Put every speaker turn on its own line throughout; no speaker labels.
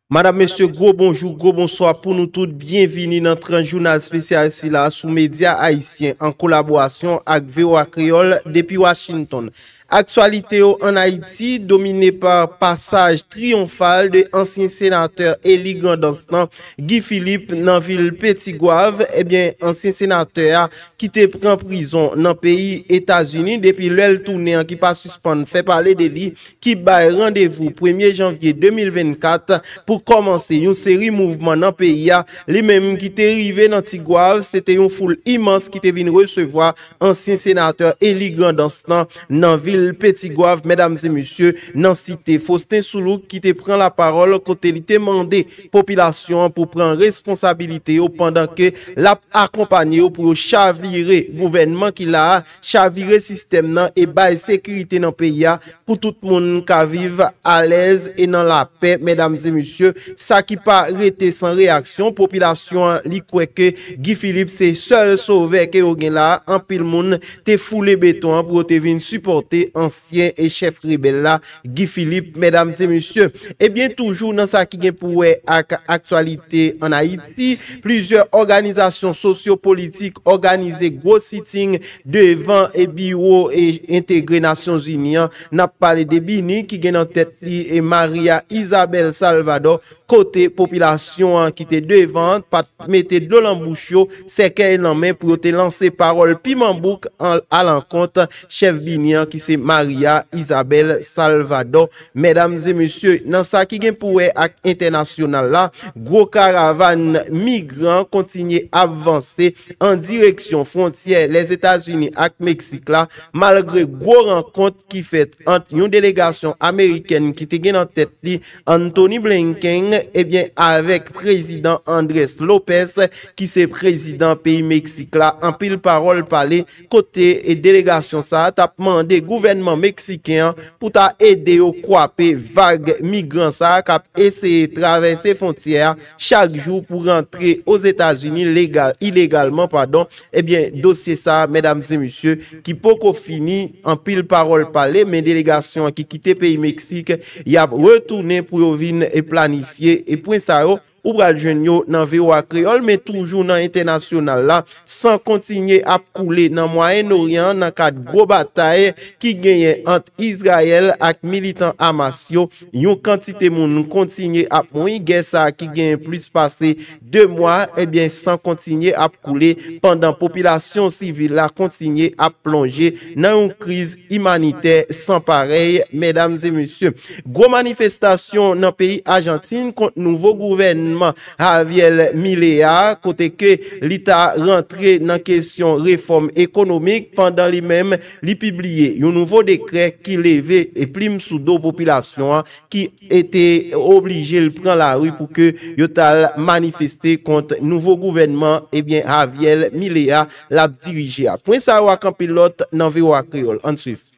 Madam mesye gwo bonjou gwo bonswa pou nou tout byen vini nan tranch jounal spesyal sila sou medya ayisyen an kolaborasyon ak voa kreyol depi Washington. Aktyalite yo an Ayiti domine pa pasaj triyonfal de ansyen senatè eli Grandans lan Guy Philippe nan vil Petit-Goâve ebyen ansyen senatè a ki te pran prizon nan peyi Etazini depi lèl tounen an ki pa sispann fè pale de li ki bay randevou premye janvye 2024 pou kòmanse yon seri mouvman nan peyi a, li menm ki te rive nan Tigwav, se te yon foul imans ki te vin resevwa ansyen senatè eli Grandans lan nan vil Petigwav, medam e mesye, nan site Faustin Soulouque ki te pran lapawòl kote li te mande popilasyon an pou pran responsabilite yo pandan ke lap akonpanye yo pou yo chavire gouvènman ki la a chavire sistèm nan e bay sekirite nan peyi a pou tout moun ka viv alèz e nan lapè medam e mesye sa ki pa rete san reyaksyon popilasyon an li kwè ke Guy Philippe se sèl sovè ke yo gen la anpil moun te foule beton an pou yo te vin sipòte ansyen chèf rebèl la Guy Philippe, Medam e mesye, ebyen toujou nan sa ki gen pou wè ak aktyalite an Ayiti, plizyè òganizasyon sosyo politik òganize gwo sitting devan e biwo e entegre Nasyon Zini an, nap pale de BINUH ki gen nan tèt li Maria Isabel Salvador, kote popilasyon an ki te devan an pa t mete dlo lan bouch yo, sèkèy lan men pou yo te lanse pawòl piman bouk alankont chèf bini an ki se Maria Isabel Salvador. Medam e mesye, nan sa ki gen pou wè ak entènasyonal la, gwo karavàn migran kontinye ap vanse an direksyon fwontyè Lèzetazini ak Meksik la, malgre gwo rankont ki fèt. ant yon delegasyon amerikèn ki te gen nan tèt li Antony Blinken ebyen avèk prezidan Andres Lopez ki se prezidan peyi Meksik la anpil pawòl pale kote delegasyon sa ta p mande gouvènman meksiken an pou ta ede yo kwape vag migran sa k ap eseye travèse fontyè a chak jou pou rantre Ozetazini legal ilegalman padon Ebyen dosye sa medam e misye ki poko fini anpil parol pale men delegasyon an ki kite peyi Mexique yap retounen pou yo vin planifye e pwen sa yo ou pral jwenn yo nan voa kreyol men toujou nan entènasyonal la san kontinye ap koule nan mwayen oryan nan kad gwo batay ki genyen ant Izrayèl ak militan Hamas yo yon kantite moun kontinye ap moui gè sa ki genyen plis pase 2 mwa, ebyen san kontinye ap koule pandan popilasyon sivil la kontinye ap plonje nan yon kriz imanitè san parèy, medam e mesye. Gwo manifestasyon nan peyi Ajantin kont nouvo gouvènman Javier Milei a, kote ke li ta rantre nan kesyon refòm ekonomik pandan li menm li pibliye yon nouvo dekrè ki leve plim sou do popilasyon an ki e te oblije l pran lari pou ke yo t al manifeste kont nouvo gouvènman ebyen Javier Milei a l ap dirije a. Pwen sa yo ak anpil lòt nan voa Kreyòl. Ann swiv.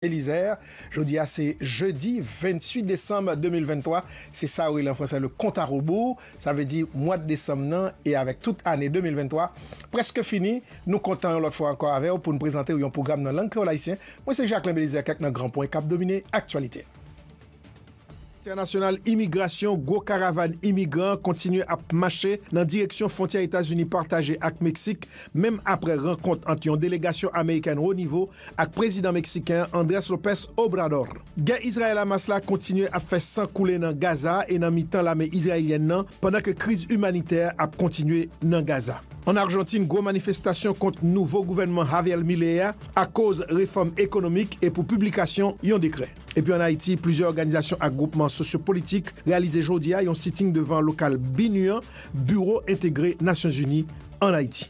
Belizaire,
Jodi a se jedi 28 desanm 2023, se sa yo rele an fransè le compte à rebours, sa vle di mwad desanm nan e avèk tout ane 2023 prèske fini, nou kontan yon lòt fwa ankò avè w pou n prezante w yon pwogram nan lang kreyòl ayisyen. Mwen se Jacquelin Belizaire kèk nan gran pwen k ap domine aktyalite. Entènasyonal Imigrasyon Gwo karavàn imigran kontinye ap mache nan direksyon fwontyè Etazini pataje ak Meksik menm aprè rankont ant yon delegasyon amerikèn wo nivo ak prezidan meksiken Andrés López Obrador. Gè Izrayèl-Hamas la kontinye ap fè san koule nan Gaza e nan mitan lame izrayelyèn nan pandan ke kriz imanitè ap kontinye nan Gaza. Ann Arjantin, gwo manifestasyon kont nouvo gouvènman Javier Milei a akoz refòm ekonomik e pou piblikasyon yon dekrè. Epi an Ayiti, plizyè òganizasyon ak gwoupman sosyopolitik reyalize jodi a yon sitting devan lokal BINUH an, Biwo Entegre Nasyonzini an Ayiti.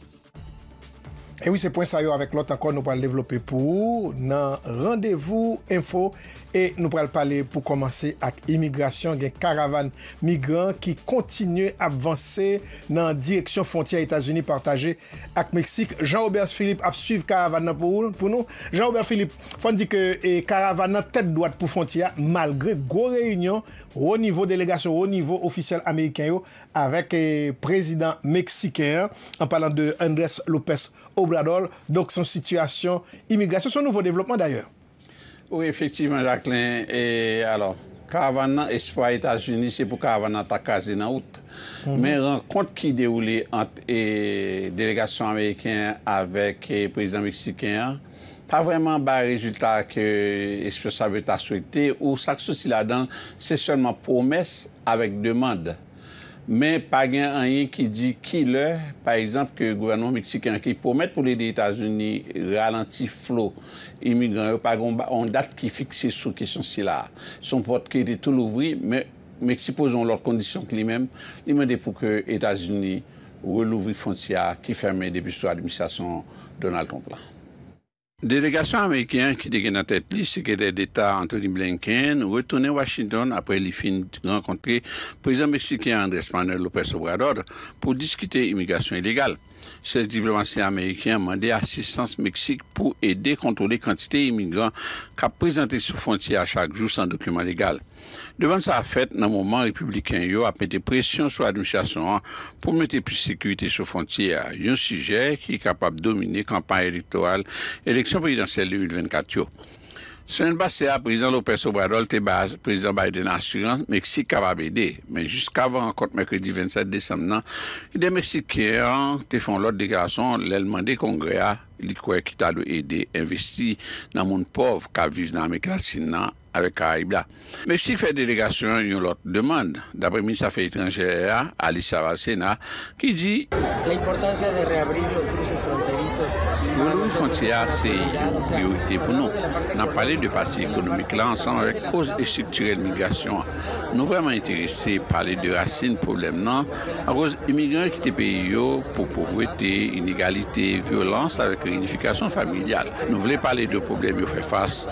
E wi, se pwen sa yo avèk lòt ankò nou pral devlope pou ou nan Randevou Enfo e nou pral pale pou kòmanse ak imigrasyon. Gen karavàn migran ki kontinye ap vanse nan direksyon fwontyè Etazini pataje ak Meksik. Jean Robert Philippe ap swiv karavàn nan pou nou. Jean Robert Philippe, fò n di ke karavàn nan tèt dwat pou fwontyè a malgre gwo reyinyon wo nivo, delegasyon wo nivo ofisyèl ameriken yo avèk prezidan meksiken an, an palan de Andrés López Obrador. Donk se yon sitiyasyon imigrasyon, se
yon nouvo
devlopman dayè.
Wi efektivman Jacquelin
e
alò
karavan
nan espwa Etazini se pou karavan nan ta kraze nan out men rankont ki dewoule ant e delegasyon ameriken an avèk prezidan meksiken an pa vrèman bay rezilta ke esponsab yo ta swete ou sak soti ladan l se sèlman pwomès avèk demand. Men pa gen anyen ki di ki lè, pa egzanp, ke gouvènman meksiken an ki pwomèt pou l ede Etazini ralanti flo imigran yo, pa gen yon dat ki fikse sou kesyon sila a. Se yon pòt ki rete tou louvri, men Meksik poze yon lòt kondisyon k li menm, li mande pou ke Etazini relouvri fwontyè a ki fèmen depi sou administrasyon Donald Trump la. Delegasyon ameriken an ki te gen nan tèt li Sekretè Deta Antony Blinken retounen Washington apre li fin rankontre Prezidan Meksiken Andrés Manuel López Obrador pou diskite imigrasyon ilegal. Chèf diplomasi ameriken an mande asistans Meksik pou ede kontwole kantite imigran k ap prezante sou fwontyè a chak jou san dokiman legal. Demand sa a fèt nan moman Repibliken yo ap mete presyon sou administrasyon an pou mete plis sekirite sou fwontyè a, yon sijè ki kapab domine kanpay elektoral eleksyon prezidansyèl 2024 yo. Semèn pase a, Prezidan Lopez Obrador te bay Prezidan Biden asirans Meksik kapab ede, men jiskavan rankont mèkredi 27 desanm nan, lidè meksiken an te fè yon lòt deklarasyon lè l mande Kongrè a li kwè ki ta dwe ede envesti nan moun pòv k ap viv nan Amerik Latin nan. avèk Karayib la. Meksik fè delegasyon an yon lòt demand, dapre minis afè etranjè a, Alicia Bárcena, ki di.
Relouvri fwontyè
a se yon priyorite pou nou. N ap pale de pati ekonomik la ansanm avèk koz estriktirèl migrasyon an. Nou vrèman enterese pale de rasin pwoblèm nan, akoz imigran yo kite peyi yo pou povrete, inegalite, vyolans avèk reyinifikasyon familyal. Nou vle pale de pwoblèm yo fè fas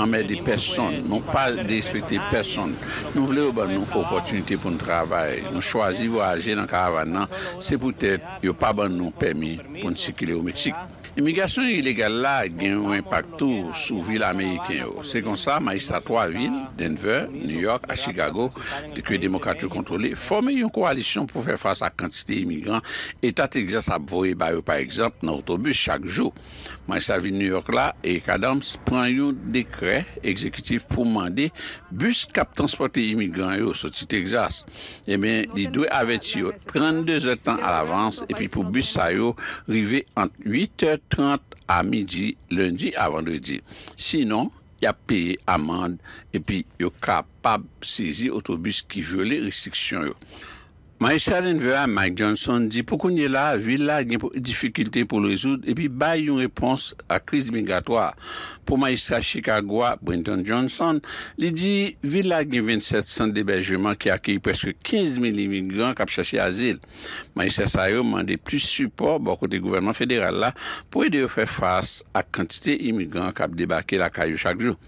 anmède pèsonn, nou pa derespekte pèsonn, nou vle yo ban nou opòtinite pou n travay, nou chwazi vwayaje nan karavàn nan, se poutèt yo pa ban nou pèmi pou n sikile o Meksik. Imigrasyon ilegal la gen yon enpak tou sou vil ameriken yo. Se konsa majistra 3 vil, Denver, New York ak Chicago, ke Demokrat yo kontwole, fòme yon kowalisyon pou fè fas ak kantite imigran eta Texas ap voye ba yo pa egzanp nan otobis chak jou. Maj la Vil New York la, Eric Adams, pran yon dekrè egzekitif pou mande bis k ap transpòte imigran yo soti Texas, ebyen li dwe avèti yo 32 zè tan alavans epi pou bis sa yo rive ant 8 tè 30 a midi lendi a vandredi. Sinon, y ap peye amand epi yo kapab sezi otobis ki vyole restriksyon yo. Majistra Denver a, Mike Johnson, di pou kounye la, vil la gen difikilte pou l rezoud epi bay yon repons a kriz migratwa a. Pou Majistra Chicago a, Brenton Johnson, li di vil la gen 27 sant debèjeman ki akeyi prèske 15 mil imigran k ap chache azil. Majistra sa yo mande plis sipò bò kote gouvènman federal la pou ede yo fè fas ak kantite imigran k ap debake lakay yo chak jou.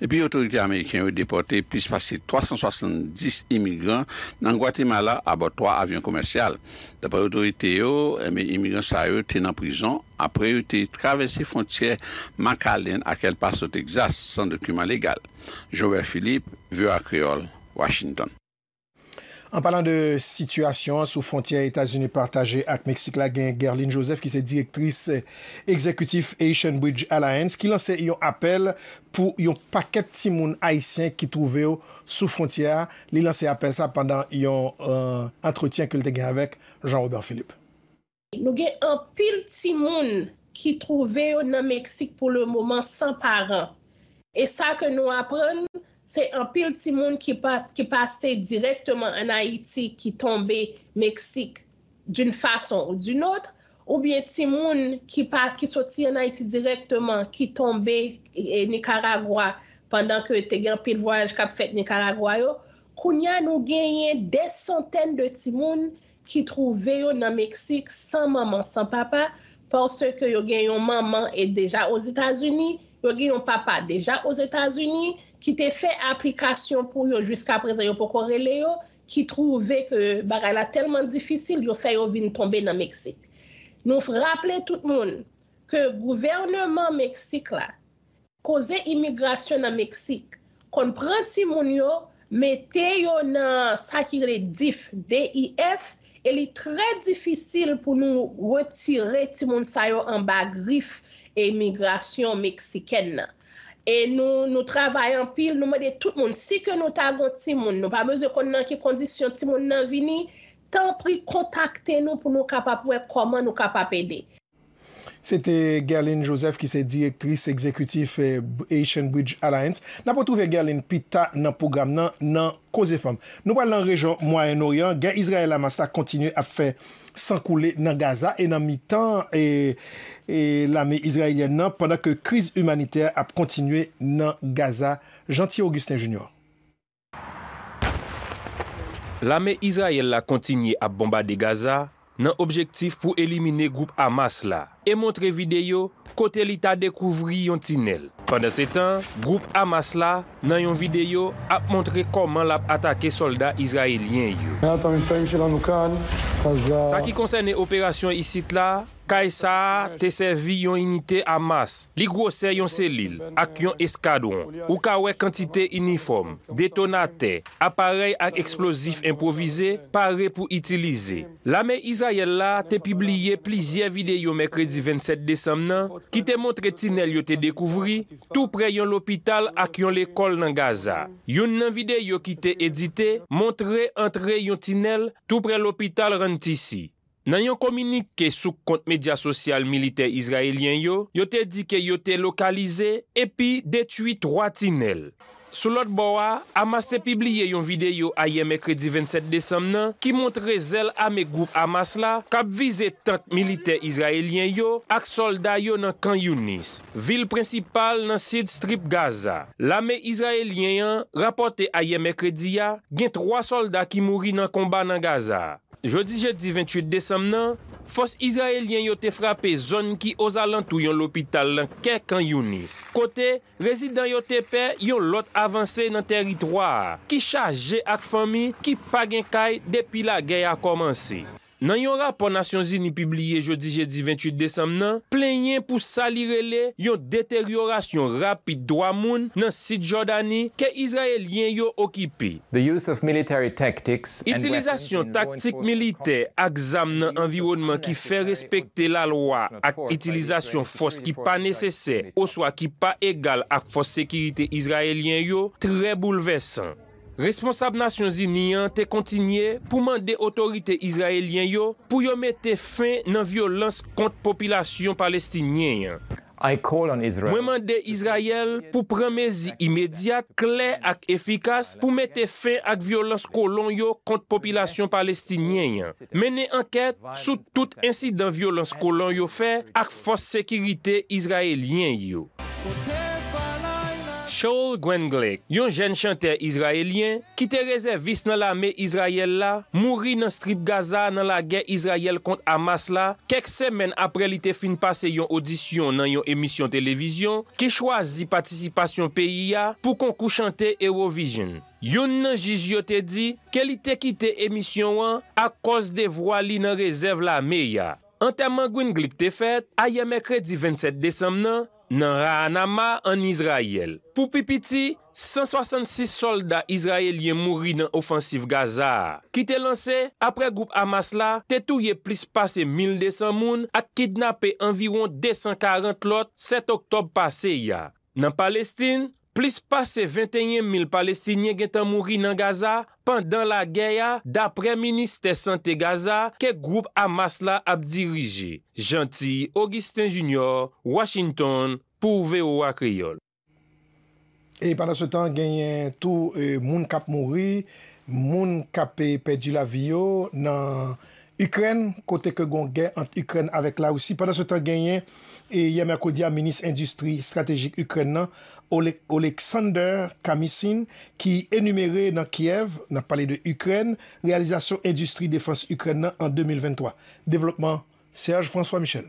Epi otorite ameriken yo depòte plis pase 370 imigran nan Gwatemala abò 3 avyon komèsyal. Daprè otorite yo, imigran sa yo te nan prizon apre yo te travèse fwontyè McAllen ak El Paso, Texas, san dokiman legal. Joubert Philippe, voa Kreyòl, Washington.
An palan de sitiyasyon an sou fwontyè Etazini pataje ak Meksik la gen Guerline Joseph ki se direktris egzekitif Haitian Bridge Alliance ki lanse yon apèl pou yon pakèt timoun ayisyen ki twouve yo sou fwontyè a, li lanse apèl sa pandan yon antretyen ke li te gen avèk Jean Robert Philippe. Nou gen
anpil timoun ki twouve yo nan Meksik pou le moman san paran. E sa ke nou aprann, se anpil timoun ki pase dirèkteman an Ayiti ki tonbe Meksik d'une façon ou d'une autre, oubyen timoun ki soti an Ayiti dirèkteman ki tonbe Nikaragwa pandan ke te gen anpil vwayaj kap fèt Nikaragwa yo. Kounya nou genyen dè santèn de timoun ki twouve yo nan Meksik san manman san papa paske yo gen yon manman e deja Ozetazini, yo gen yon papa deja Ozetazini ki te fè aplikasyon pou yo jiskaprezan yo poko rele yo, ki twouve ke bagay la tèlman difisil yo fè yo vin tonbe nan Meksik. Nou raple tout moun ke gouvèneman Meksik la Koze imigrasyon nan Meksik konn pran timoun yo mete yo nan sa ki rele dif, D-I-F, e li trè difisil pou nou retire timoun sa yo anba grif imigrasyon meksikèn nan. E nou nou travay anpil, nou mande tout moun, si ke nou ta gon timoun, nou pa bezwen konn nan ki kondisyon timoun nan vini, tanpri kontakte nou pou nou kapab wè kòman nou kapab ede. Se te
Guerline Joseph ki se direktris egzekitif Haitian Bridge Alliance. N ap retwouve Guerline pi ta nan pwogram nan nan Koze Fanm. Nou pral nan rejyon Mwayen Oryan. Gè Izrayèl-Hamas la kontinye ap fè san koule nan Gaza e nan mitan lame izrayelyèn nan pandan ke kriz imanitè ap kontinye nan Gaza. Jeanty Augustin Junior.
Lame Izrayèl la kontinye ap bonbade Gaza nan objektif pou elimine gwoup Hamas la e montre videyo kote li ta dekouvri yon tinèl. Pandansetan, gwoup Hamas la, nan yon videyo, ap montre kòman l ap atake sòlda Izrayelyen yo. Sa ki konsène operasyon isit la, Kay sa a te sèvi yon inite a mas, li gwosè yon selil ak yon eskadwon. Ou ka wè kantite inifòm, detonatè, aparèy ak eksplozif enpwovize pare pou itilize. Lame Izrayèl la te pibliye plizyè videyo mèkredi 27 desanm nan ki te montre tinèl yo te dekouvri toupre yon lopital ak yon lekòl nan Gaza. Youn nan videyo ki te edite montre antre yon tinèl toupre lopital Rantisi. Nan yon kominike sou kont medya sosyal militè Izrayelyen yo, yo te di ke yo te lokalize epi detwi 3 tinèl. Sou lòt bò a, Hamas te pibliye yon videyo ayè mèkredi 27 desanm nan ki montre zèl ame gwoup Hamas la k ap vize tank militè Izrayelyen yo ak sòlda yo nan Kan Younis, vil prensipal nan sid Strip Gaza. Lame Izrayelyen an rapòte ayè mèkredi a gen 3 sòlda ki mouri nan konba nan Gaza a. Jodi jedi 28 desanm nan, fòs Izrayelyen yo te frape zòn ki ozalantou yon lopital nan kè Khan Younis, kote rezidan yo te pè yon lòt avanse nan tèritwa a ki chaje ak fanmi ki pa gen kay depi lagè a kòmanse. Nan yon rapò Nasyonzini pibliye jodi jedi 28 desanm nan, plenyen pou sa li rele yon deteryorasyon rapid dwa moun nan sid Jòdani ke Izrayelyen yo okipe. The use of military tactic Itilizasyon taktik militè ak zam nan anviwònman ki fè respekte lalwa ak itilizasyon fòs ki pa nesesè oswa ki pa egal ak fòs sekirite Izrayelyen yo trè boulvèsan. Responsab Nasyonzini an te kontinye pou mande otorite Izrayelyen yo pou yo mete fen nan vyolans kont popilasyon Palestinyen an. Mwen mande Izrayèl pou pran mezi imedyat, klè ak efikas pou mete fen ak vyolans kolon yo kont popilasyon palestinyen an, mennen ankèt sou tout ensidan vyolans kolon yo fè ak fòs sekirite izrayelyen yo. Shaul Gwenglick, yon jèn chantè izrayelyen ki te rezèvis nan lame Izrayèl la, mouri nan Strip Gaza nan lagè Izrayèl kont Hamas la kèk. semèn apre li te fin pase yon odisyon nan yon emisyon televizyon ki chwazi patisipasyon peyi a pou konkou chante Eurovision. Youn nan jij yo te di ke li te kite emisyon an akòz devwa li nan rezèv lame a. Antèman Gwynglic te fèt ayè mèkredi 27 desanm nan nan Raanama ann Izrayèl. Pou pi piti, 166 sòlda izrayelyen mouri nan ofansiv Gaza a, ki te lanse apre gwoup Hamas la te touye plis pase 1,200 moun ak kidnape anviwon 240 lòt 7 oktòb pase a. Nan Palestin, Plis pase 21 mil Palestinyen gentan mouri nan Gaza pandan lagè a, daprè Ministè Sante Gaza ke gwoup Hamas la ap dirije. Jeanty Augustin Junior, Washington pou voa Kreyol.
E pandansetan genyen tou moun kap mouri, moun kap pèdi lavi yo nan Ikrèn, kote ke gon gè ant Ikrèn avèk Larisi. Pandan se tan genyen, yè mèkredi a minis endistri estratejik Ikrèn nan, Oleksandr Kamysyn ki enumere nan Kyèv, nap pale de Ikrèn, reyalizasyon endistri defans Ikrèn nan an 2023. Devlopman Serge François Michel.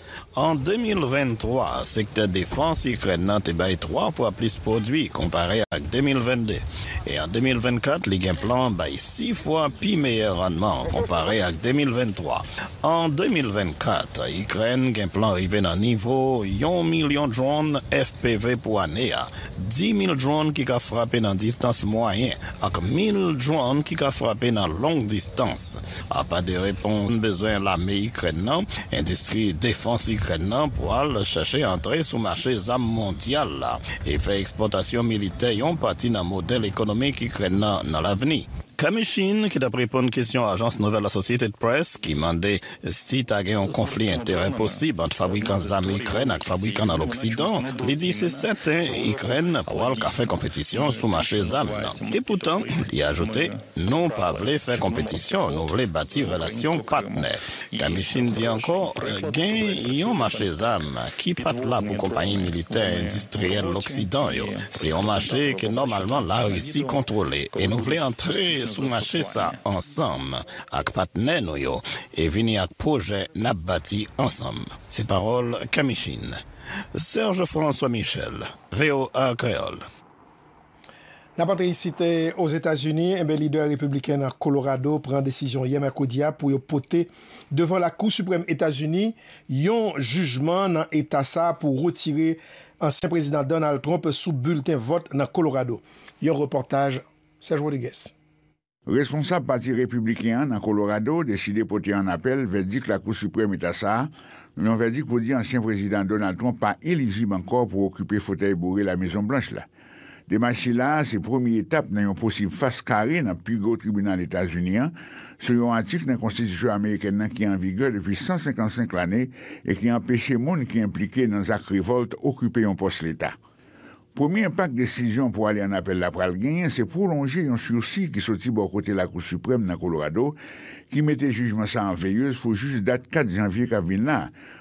An 2023, sektè defans Ikrèn nan te bay 3 fwa plis pwodui konpare ak 2022, e an 2024 li gen plan bay 6 fwa pi meyè rannman konpare ak 2023. An 2024, Ikrèn gen plan rive nan nivo yon milyon dronn FPV pou ane a, di mil dronn ki ka frape nan distans mwayen ak mil dronn ki ka frape nan long distans. Apa de reponn bezwen lame Ikrèn nan, endistri defans Ikrèn nan pwal chache antre sou mache zam mondyal la e fè ekspòtasyon militè yon pati nan modèl ekonomik Ikrèn nan nan lavni. Kamyshin ki t ap reponn kesyon ajans nouvèl Associated Press ki mande si ta gen yon konfli enterè posib ant fabrikan zam Ikrèn ak fabrikan nan loksidan, li di se sèten Ikrèn pwal ka fè konpetisyon sou mache zam nan. Epoutan, li ajoute. Nou pa vle fè konpetisyon, nou vle bati relasyon patnè. Kamishyn di ankò, gen yon mache zam ki pa t la pou konpayi militè endistriyèl loksidan yo. Se yon mache ke nòmalman Larisi kontwole e nou vle antre sou mache sa ansanm ak patnè nou yo e vini ak pwojè n ap bati ansanm. Se pawòl Kamishyn. Serge François Michel, voa Kreyòl.
N ap antre isit Ozetazini, enben lidè repibliken nan Kolorado pran desizyon yè mèkredi a pou yo pote devan Lakou Siprèm Etazini yon jijman nan eta sa a pou retire ansyen prezidan Donald Trump sou bilten vòt nan Kolorado. Yon repòtaj Serge Rodriguez. Responsab
pati Repibliken an nan Kolorado deside pote an apèl vèdik Lakou Siprèm Eta sa a, yon vèdik pou di ansyen Prezidan Donald Trump pa elijib ankò pou okipe fotèy boure Lamezon Blanch la. Demach sila a se premye etap nan yon posib fas kare nan pi gwo tribinal Etazini an sou yon atik nan konstitisyon amerikèn nan ki an vigè depi 155 lane e ki anpeche moun ki enplike nan zak revòlt okipe yon pòs leta. Premye enpak desizyon pou ale annapèl la pral genyen se pwolonje yon sirsi ki soti bò kote Lakou Siprèm nan Kolorado ki mete jijman sa an veyez pou jis dat 4 janvye k ap vin la,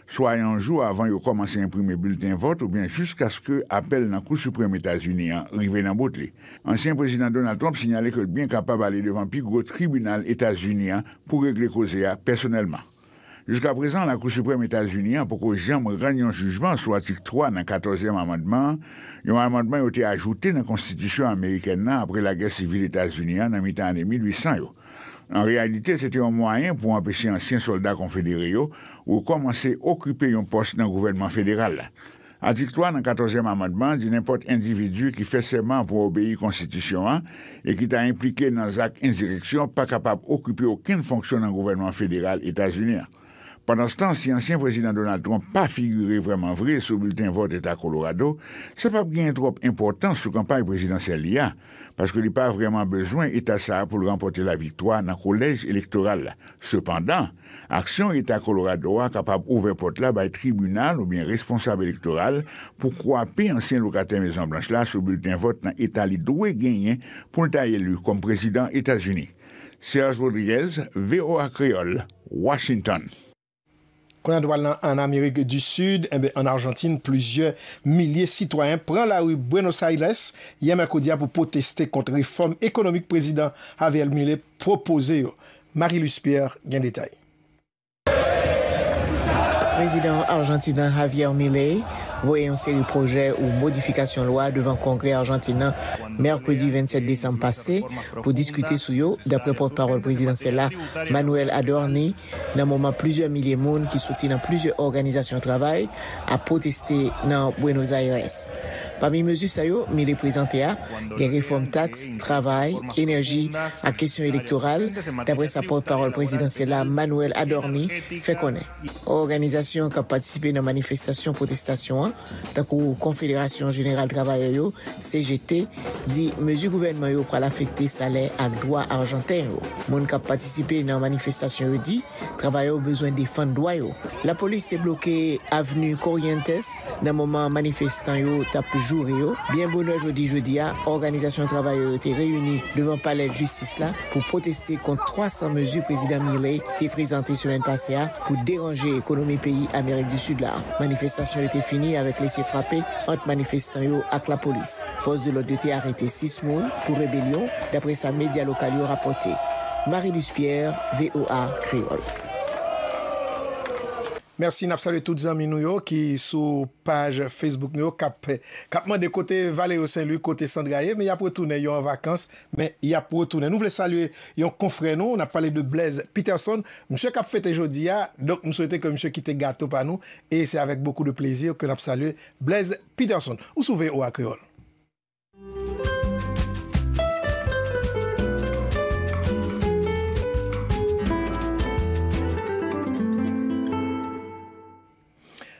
swa yon jou avan yo kòmanse enprime bilten vòt oubyen jiskaske apèl nan Kou Siprèm Etazini an rive nan bout li. Ansyen Prezidan Donald Trump sinyale ke l byen kapab ale devan pi gwo tribinal Etazini an pou regle koze a pèsonèlman. Jiskaprezan, Lakou Siprèm Etazini an poko janm rann yon jijman sou Atik 3 nan Katòzyèm Amandman an, yon amandman yo te ajoute nan Konstitisyon amerikèn nan apre Lagè Sivil Etazini an nan mitan ane 1800 yo. An reyalite, se te yon mwayen pou anpeche ansyen sòlda Konfedere yo rekòmanse okipe yon pòs nan gouvènman federal la. Atik 3 nan Katòzyèm Amandman an di nenpòt endividi ki fè sèman pou obeyi konstitisyon an e ki ta enplike nan zak enzireksyon pa kapab okipe okenn fonksyon nan gouvènman federal Etazini an. Pandanstan, si ansyen Prezidan Donald Trump pa figire vrèman vre sou bilten vòt Eta Kolorado, sa pap genyen twòp enpòtans sou kanpay prezidansyèl li a, paske li pa vrèman bezwen eta sa a pou l ranpòte laviktwa nan kolèj elektoral la. Sepandan, Aksyon Eta Kolorado a kapab ouvè pòt la bay tribinal oubyen responsab elektoral pou kwape ansyen lokatè Mezon Blanch la sou bilten vòt nan eta li dwe genyen pou l ta eli kòm prezidan Etazini. Serge Rodriguez, voa Kreyòl, Washington. Kounye
a nou pral nan an Amerik di Sid, enben an Arjantin plizyè milye sitwayen pran lari Buenos Aires yè mèkredi a pou pwoteste kont refòm ekonomik prezidan Javier Milei pwopoze yo. Marie Luce Pierre gen detay.
Prezidan Arjantin an Javier Milei voye yon seri pwojè ou modifikasyon lwa devan Kongrè Arjantin an mèkredi 27 desanm pase pou diskite sou yo, daprè pòt pawòl prezidansyèl la Manuel Adorni, nan moman plizyè milye moun ki soti nan plizyè òganizasyon travay ap pwoteste nan Buenos Aires. Pami mezi sa yo Mille prezante a, gen refòm taks, travay, enèji ak kesyon elektoral, daprè sa pòtpawòl prezidansyèl la, Manuel Adorni, fè konnen. Òganizasyon k ap patisipe nan manifestasyon pwotestasyon an, tankou Konfederasyon jeneral travayè yo, CGT, di mezi gouvènman yo pral afekte salè ak dwa ajanten yo. Moun k ap patisipe nan manifestasyon yo di. Travayè yo bezwen defann dwa yo. Lapolis te bloke avni Corrientes nan moman manifestan yo t ap joure yo. Byen bonè jodi jedi a, òganizasyon travayè yo te reyini devan palè jistis la pou pwoteste kont 300 mezi Prezidan Milei te prezante semèn pase a pou deranje ekonomi peyi Amerik di Sid la. Manifestasyon yo te fini avèk lese frape ant manifestan yo ak lapolis. Fòs de lòd yo te arete 6 moun pou rebelyon, daprè sa medya lokal yo rapòte. Marie Luce Pierre, voa Kreyòl.
Merci nap salye tout zanmi nou yo ki sou page Facebook nou yo kap kap mande kote Valerio Saint Louis kote Sandra ye men yap retounen yo an vakans men yap retounen nou vle salye yon konfrè nou nap pale de Blaise Peterson misye kap fete jodia donk m swete ke misye kite gato pa nou e se avèk bokou de plezi ke nap salye Blaise Peterson, ou sou voa Kreyol.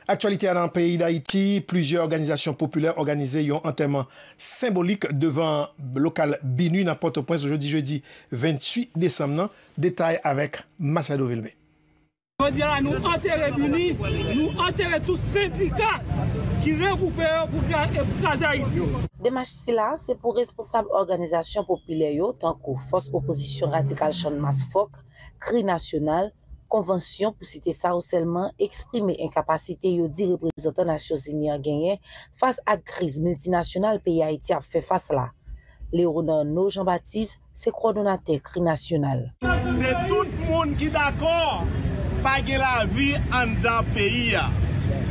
Aktyalite nan peyi Dayiti, plizyè òganizasyon popilè òganize yon antèman senbolik devan lokal BINUH nan Pòtoprens jodi jedi 28 desanm nan. Detay avèk Masiado Vilmé. Jodi a la
nou antere BINUH, nou antere tout sendika ki regwoupe yo pou kraze Ayiti. Demach sila a
se pou responsab òganizasyon popilè yo tankou Fòs Opozisyon Radikal Channmas fòk, Kri Nasyonal, Konvansyon pou site sa yo sèlman eksprime enkapasite yo di reprezantan Nasyonzini an genyen fas ak kriz miltinasyonal peyi Ayiti ap fè fas la. Leonarno Jean Baptiste, se kòdonatè kri nasyonal. Se tout
moun ki dakò pa gen lavi anndan peyi a.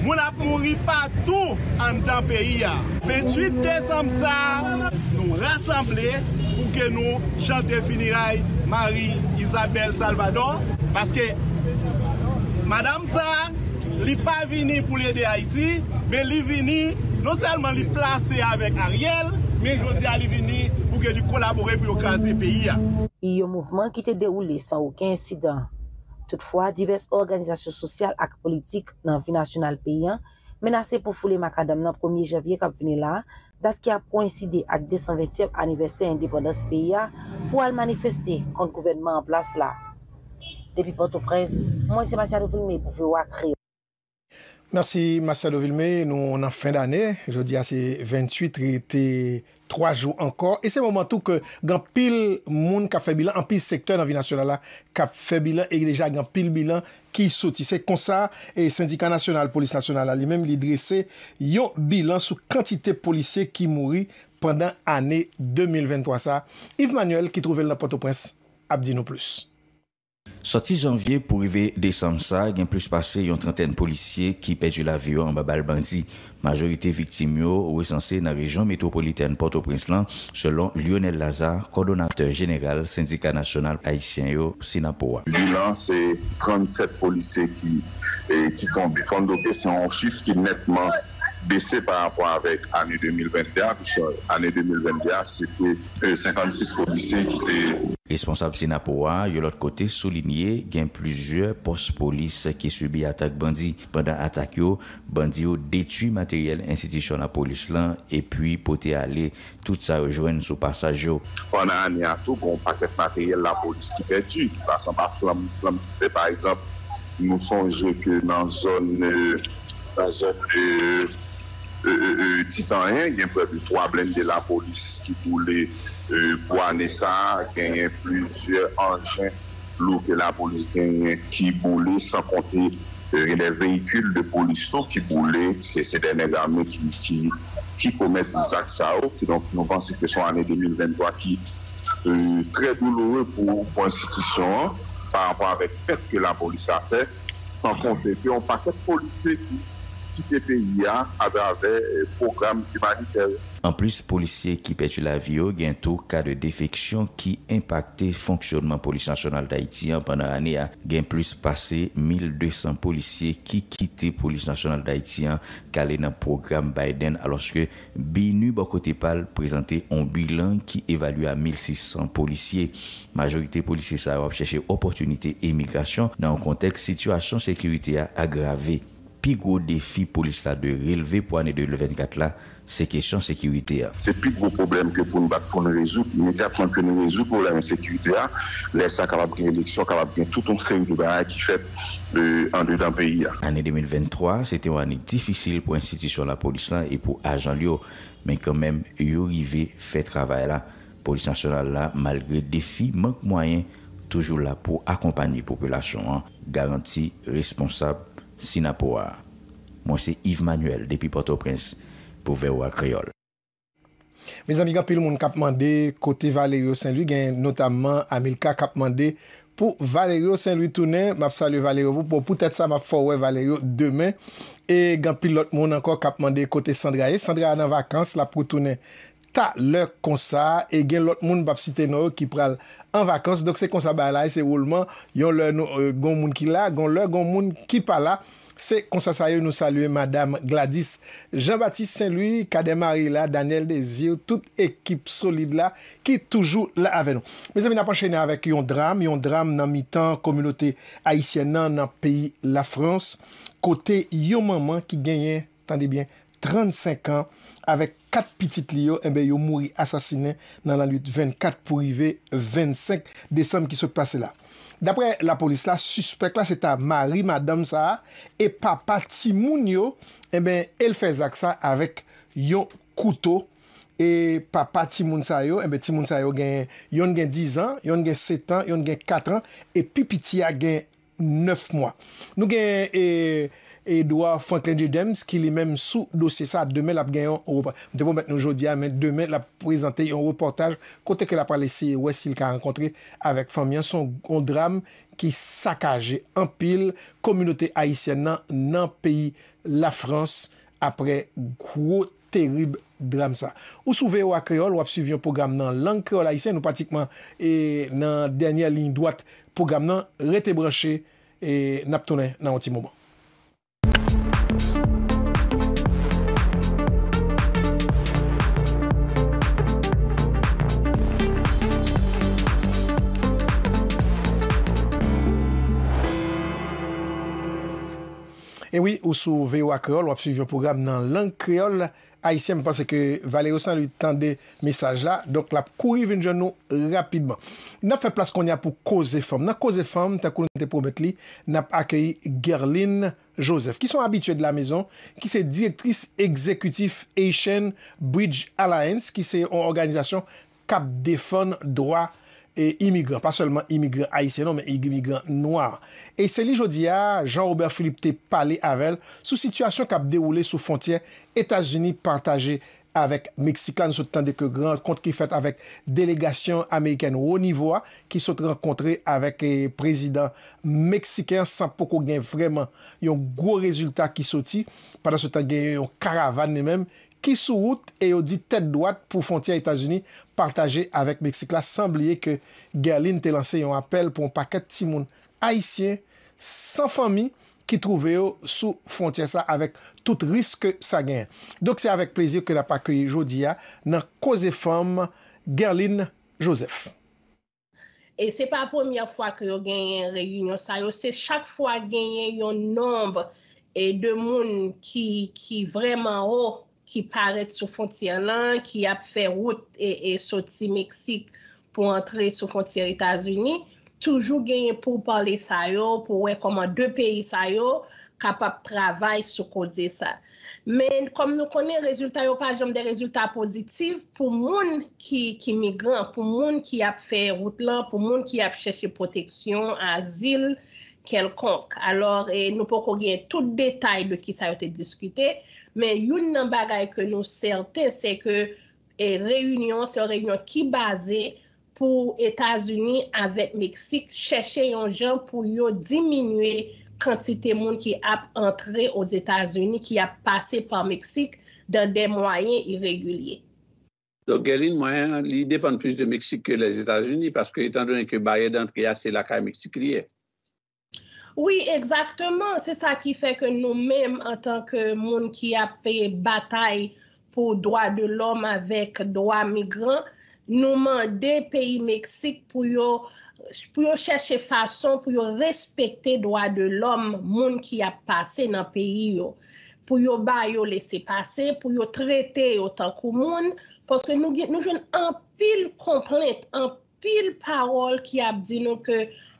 Moun ap mouri patou anndan peyi a. 28 desanm sa a, nou rasanble pou ke nou chante finiray Marie Isabelle Salvador, paske madam sa a, Li pa vini pou l ede Ayiti, men li vini, non sèlman li plase avèk Ariel, men jodi a li vini pou ke li kolabore pou yo kraze peyi a. Yon mouvman
ki te dewoule san oken ensidan. Toutfwa, divès òganizasyon sosyal ak politik nan vi nasyonal peyi an menase pou foule makadam nan premye janvye k ap vini la, dat ki ap koenside ak 220 tyèm anivèsè endepandans peyi a, pou al manifeste kont gouvènman an plas la. Depi Pòtoprens, mwen se Masiado Vilmé pou voa Kreyòl. Mèsi
Masiado Vilmé, nou nan fen dane, jodi a se 28, rete 3 jou ankò, e se moman tou ke gen anpil moun k ap fè bilan, anpil sektè nan vi nasyonal la k ap fè bilan, e deja gen anpil bilan ki soti. Se konsa, Sendika Nasyonal Polis Nasyonal la li menm li drese yon bilan sou kantite polisye ki mouri pandan ane 2023 sa. Yves Manuel ki twouve l nan Pòtoprens ap di nou plis. Sòti
janvye pou rive desanm sa, gen plis pase yon trantèn polisye ki pèdi lavi yo anba bal bandi. Majorite viktim yo resanse nan rejyon metwopolitèn Pòtoprens lan, selon Lyonel Lazarre, kòdonatè jeneral Sendika Nasyonal Ayisyen yo, Synapo, a. Bilan, se
37 polisye ki ki tonbe. Fò n note se yon chif ki nètman bese pa rapò avèk ane 2022 a, piske ane 2022 a se te 56 polisye ki te. Responsab Synapo
a, yon lòt kote, soulinye gen plizyè pòs polis ki sibi atak bandi. Pandan atak yo, Bandi yo detwi materyèl enstitisyon lapolis lan epi pote ale tout sa yo jwenn sou pasaj yo. Pandan ane a
tou gen yon pakèt materyèl lapolis ki pèdi, ki pase anba flanm flanm dife. Pa egzanp, nou sonje ke nan zòn nan zòn Titanyen gen prè de twa blende lapolis ki boule pou ane sa a. Genyen plizyè anjen. lou ke lapolis genyen ki boule san konte gen de veyikil de polis tou ki boule se de nèg ame ki komèt zak sa yo kidonk nou panse ke se yon ane 2023 ki trè douloure pou enstitisyon an pa rapò avèk pèt ke lapolis la fè. San konte ke yon pakèt polisye ki kite peyi a atravè pwogram imanitè yo. Anplis
polisye ki pèdi lavi yo, gen tou ka de defeksyon ki enpakte fonksyonman Polis Nasyonal Dayiti an pandan ane a. Gen plis pase 1,200 polisye ki kite Polis Nasyonal Dayiti an kale nan pwogram Biden alòske, BINUH bò kote pa l prezante on bilan ki evalye a 1,600 polisye. Majorite polisye sa yo ap chèche opòtinite emigrasyon nan yon kontèks sitiyasyon sekirite a agrave. Pi gwo defi polis la dwe relve pou ane 2024 la, se kesyon sekirite a. Se pi gwo pwoblèm
ke pou n bat pou n rezoud, imedyatman ke nou rezoud pwoblèm ensekirite a, lè sa kapab gen eleksyon, kapab gen tout on seri de bagay ki fèt. andedan peyi a. Ane 2023
se te yon ane difisil pou enstitisyon lapolis la e pou ajan l yo, men kanmenm yo rive fè travay la. Polis Nasyonal la, malgre defi mank mwayen, toujou la pou akonpanye popilasyon an, garanti responsab Synapoha. Mwen se Yves Manuel depi Pòtoprens pou voa Kreyòl.
Mezanmi gen anpil moun kap mande kote Valerio Saint Louis gen notamman Amilcar kap mande pou Valerio Saint Louis tounen map salye Valerio pou bon poutèt sa map fè w wè Valerio demen e gen anpil lòt moun ankò kap mande kote Sandra ye Sandra nan vakans lap retounen talè konsa e gen lòt moun mpap site non yo ki pral an vakans donk se konsa bagay la ye se woulman yon lè nou gen yon moun ki la gen yon lè gen yon moun ki pa la. Se konsa sa yo nou salye madam Gladys Jean Baptiste Saint Louis, Cadet Marie la, Daniel Desir, tout ekip solid la ki toujou la avè nou. Mezanmi nap anchene avèk yon dram, yon dram nan mitan kominote ayisyèn nan nan peyi Lafrans kote yon manman ki genyen. Tande byen, 35 an, avèk 4 pitit li yo, enben yo mouri asasinen nan lannuit 24 pou rive 25 desanm ki sot pase la. Daprè lapolis la, sispèk la se ta mari madanm sa a e papa timoun yo, enben e l fè zak sa avèk yon kouto e papa timoun sa yo, enben timoun sa yo gen, yonn gen 10 an, yonn gen 7 an, yonn gen 4 an e pi piti a gen 9 mwa. Nou gen Edouard Franklin Dieudèms ki li menm sou dosye sa, demen l ap gen yon, m te pwomèt nou jodi a, men demen l ap prezante yon repòtaj kote ke l ap pral eseye wè si l ka rankontre avèk fanmi an. Se yon dram ki sakaje anpil kominote ayisyèn nan nan peyi Lafrans apre gwo. terib dram sa. Ou sou voa Kreyòl, w ap suiv yon pwogram nan lang kreyòl ayisyen, nou pratikman e nan dènyè liy dwat pwogram nan, rete branche e n ap tounen nan yon ti moman. E wi ou sou voa kreyol wap swiv yon program nan lang kreyol ayisyen m panse ke Valerio Saint Louis tande mesaj la donk lap kouri vin jwenn nou rapidman. Nap fè plas konnya pou koze fanm. Nan koze fanm tankou nou te pwomèt li nap akeyi Guerline Joseph ki son abitye de la maison ki se direktris egzekitif Haitian Bridge Alliance ki se yon òganizasyon k ap defann dwa imigran, pa sèlman imigran ayisyen non men imigran nwa. E se li jodi a Jean Robert Philippe te pale avè l sou sitiyasyon k ap dewoule sou fwontyè Etazini pataje avèk Meksik la. Nou sot tande ke gran rankont ki fèt avèk delegasyon amerikèn wo nivo a ki sot rankontre avèk prezidan meksiken an san poko gen vrèman yon gwo rezilta ki soti. Pandansetan genyen yon karavàn li menm ki sou wout e yo di tèt dwat pou fwontyè Etazini pataje avèk Meksik la san bliye ke Guerline te lanse yon apèl pou yon pakèt timoun ayisyen san fanmi ki twouve yo sou fwontyè sa avèk tout risk ke sa genyen. Donk se avèk plezi ke n ap akeyi jodi a nan Koze Fanm Guerline Joseph.
E se pa premyè fwa ke yo genyen reyinyon sa yo, se chak fwa genyen yon nonb e de moun ki ki vrèman wo ki parèt sou fontyè lan, ki ap fè wout e e soti Meksik pou antre sou fontyè Etazini, toujou genyen pou pale sa yo, pou wè kòman de peyi sa yo kapab travay sou koze sa. Men, kòm nou konnen, rezilta yo pa janm de rezilta pozitif pou moun ki migran, pou moun ki ap fè wout lan, pou moun ki ap chèche pwoteksyon, azil, kèlkonk. Alò, nou poko gen tout detay de ki sa yo te diskite, men youn nan bagay ke nou sèten, se ke reyinyon an, se yon reyinyon ki baze pou Etazini avèk Meksik chèche yon jan pou yo diminye kantite moun ki ap antre Ozetazini ki ap pase pa Meksik dan dè mwayen iregilye. Donk gen
lin mwen an, li depann plis de Meksik ke Lèzetazini paske etan done ke baryè dantre a se lakay Meksik li ye.
Wi egzakteman se sa ki fè ke nou menm antan ke moun ki ap batay pou dwa de lòm avèk dwa migran nou mande peyi Meksik pou yo pou yo chèche fason pou yo respekte dwa de lòm moun ki ap pase nan peyi yo pou yo ba yo lese pase pou yo trete yo tankou moun paske nou gen nou jwenn anpil konplent anpil Pil pawòl ki ap di nou ke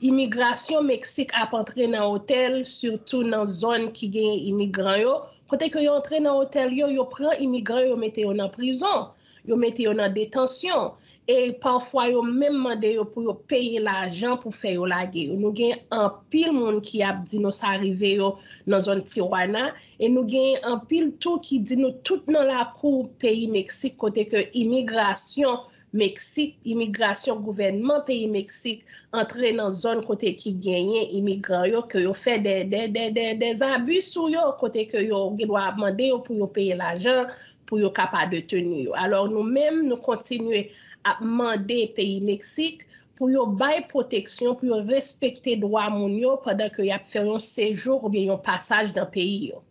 imigrasyon Meksik ap antre nan otèl, sitou nan zòn ki genyen imigran yo, kote ke yo antre nan otèl yo, yo pran imigran yo mete yo nan prizon, yo mete yo nan detansyon, e pafwa yo menm mande yo pou yo peye lajan pou fè yo lage yo. Nou gen anpil moun ki ap di nou sa rive yo nan zòn Tijuana, e nou gen anpil tou ki di nou tout nan lakou peyi Meksik kote ke imigrasyon Meksik, Imigrasyon Gouvènman peyi Meksik antre nan zòn kote ki genyen imigran yo ke yo fè dè zabi sou yo kote ke yo gen dwa ap mande yo pou yo peye lajan pou yo ka pa deteni yo. Alò nou menm nou kontinye ap mande peyi Meksik pou yo bay pwoteksyon, pou yo respekte dwa moun yo pandan ke y ap fè yon sejou oubyen yon pasaj nan peyi yo.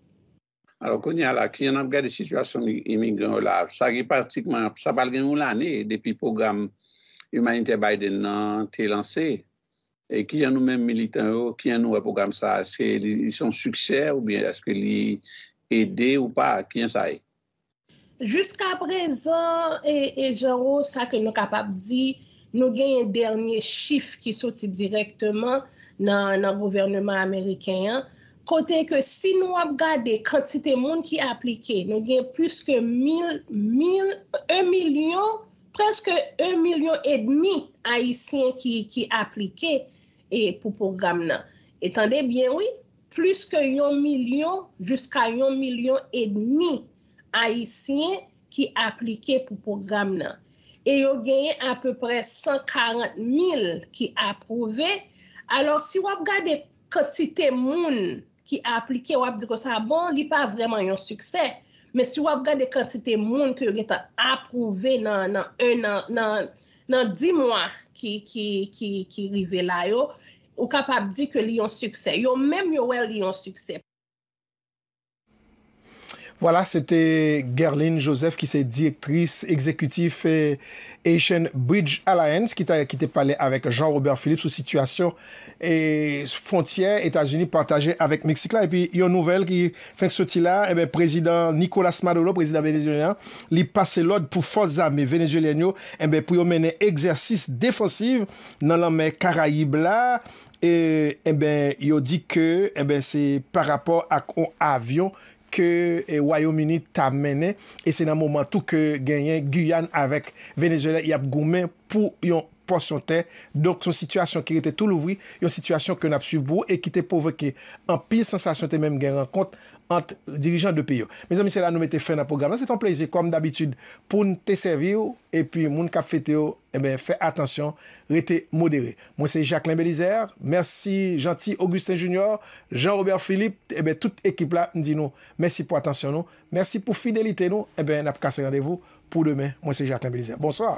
Alò kounye
a la, kijan n ap gade sitiyasyon imigran yo la a? Sa gen pratikman, sa pral gen yon lane depi pwogram imanitè Biden nan te lanse. E kijan nou menm militan yo, kijan nou wè pwogram sa a? Èske li se yon siksè oubyen èske li ede ou pa? Kijan sa ye?
Jiskaprezan, e Janwo, sa ke nou kapab di, nou genyen dènye chif ki soti dirèkteman nan gouvèneman ameriken an, kote ke si nou ap gade kantite moun ki aplike, nou gen plis ke mil, mil, e milyon, prèske e milyon edmi ayisyen ki aplike pou pwogram nan. E tande byen wi, Plis ke yon milyon jiska yon milyon edmi Ayisyen ki aplike pou pwogram nan e yo genyen apeprè 140 mil ki apwouve. Alò, si w ap gade kantite moun ki aplike, w ap di konsa, bon, li pa vrèman yon siksè. Men si w ap gade kantite moun ke yo gen tan apwouve nan di mwa ki rive la yo, Ou kapab di ke li yon siksè. Yo menm yo wè li yon siksè.
Vwala, se te Guerline Joseph ki se direktris egzekitif Haitian Bridge Alliance ki te pale avèk Jean Robert Philippe sou sitiyasyon fwontyè Etazini pataje avèk Meksik la. Epi yon nouvèl ki fenk soti la, enben prezidan Nicolas Maduro, prezidan venezyelyen an, li pase lòd pou fòs zame venezyelyèn yo, enben pou yo mennen egzèsis defansiv nan lanmè karayib la e enben yo di ke enben se pa rapò ak on avyon ke wayom uni ta mennen e se nan moman tou ke genyen Guyane avèk Venezuela yap goumen pou yon pòsyon tè donk son sitiyasyon ki rete tou louvri yon sitiyasyon ke nap swiv pou ou e ki te pwovoke anpil sansasyon te menm gen rankont ant dirijan 2 peyi yo mezanmi se la nou mete fen nan pwogram nan se te yon plezi kòm dabitid poun te sèvi ou epi moun kap fete yo. Enben fè atansyon, rete modere. Mwen se Jacquelin Belizaire, mèsi Jeanty Augustin Junior, Jean Robert Philippe, enben tout ekip la m di nou mèsi pou atansyon nou, mèsi pou fidelite nou, enben n ap kase randevou pou demen, mwen se Jacquelin Belizaire. Bonswa!